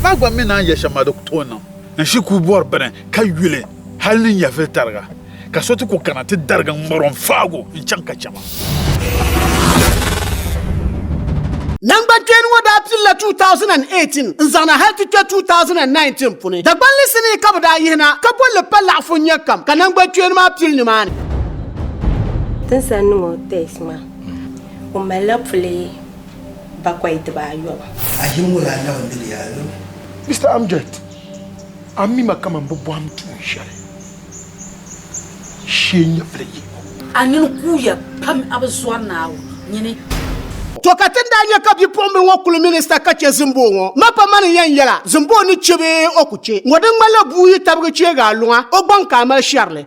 Maa gba mi naan yɛ shɛm maa di ku tooi niŋ. N shi ku bɔri bini ka yuli hali ni nyɛvili tariga, ka so ti ku kana ti darigi n ŋmari o n faag o n chaŋ ka chɛ ma. Nangbankpeeni ŋɔ daa pilila 2018 n zaŋna hali ti kpe 2019 puni. Dagbanli sinii ka bɛ daa yihi na ka bolli pa laɣifu n nyɛ kam ka nangbankpeeni maa pili nimaani. Tinsan niŋ o test maa o malila puli. bakɔi diba ayɔbu. A yim ŋɔ yaa lahi mini ya ayɔbu. Mister Amjad, a mi ma kaman bɛ bɔhim tuun shɛli shee nyɛvili yihibu. A nini kuuya pam a bi zɔri ni a nyini. To ka ti ni daa nya ka bipuɣimbila ŋɔ kuli minista ka che Zimboo ŋɔ ma pa mani yɛn yɛla Zimboo ni che bee o ku che ŋɔ di ŋmanila bua yi tabigi cheegi a luŋa o gbaŋ ka a mali shɛrili.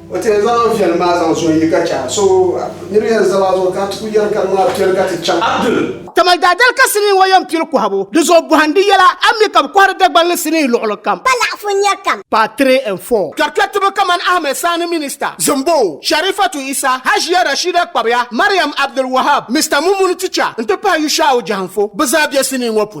O ti yɛn zaŋ an viɛlim maa zaŋ zo n yi ka chɛ a. So nir yɛn zal a zuɣu ka a ti ku yɛri ka di maa piɛli ka ti chaŋ. Abdul. Kaman daadali ka sinii ŋɔ yɛn pili kɔhibu. Di zuɣu bɔhindi yɛla, a mi ka bɛ kɔhiri Dagban ni sinii luɣili kam? Pa laɣifu nir kam. Part 3 and 4. Kpɛrikpɛritiba kaman Ahmed Sani Minista, Zimboo, Sharifatu Issa, Hajiya Rashida Kpabiya, Mariam Abdul Wahab, Mister Mumuni Ticha n-ti pahi Yusha'u Jahanfo bɛ zaa be sinii ŋɔ puuni.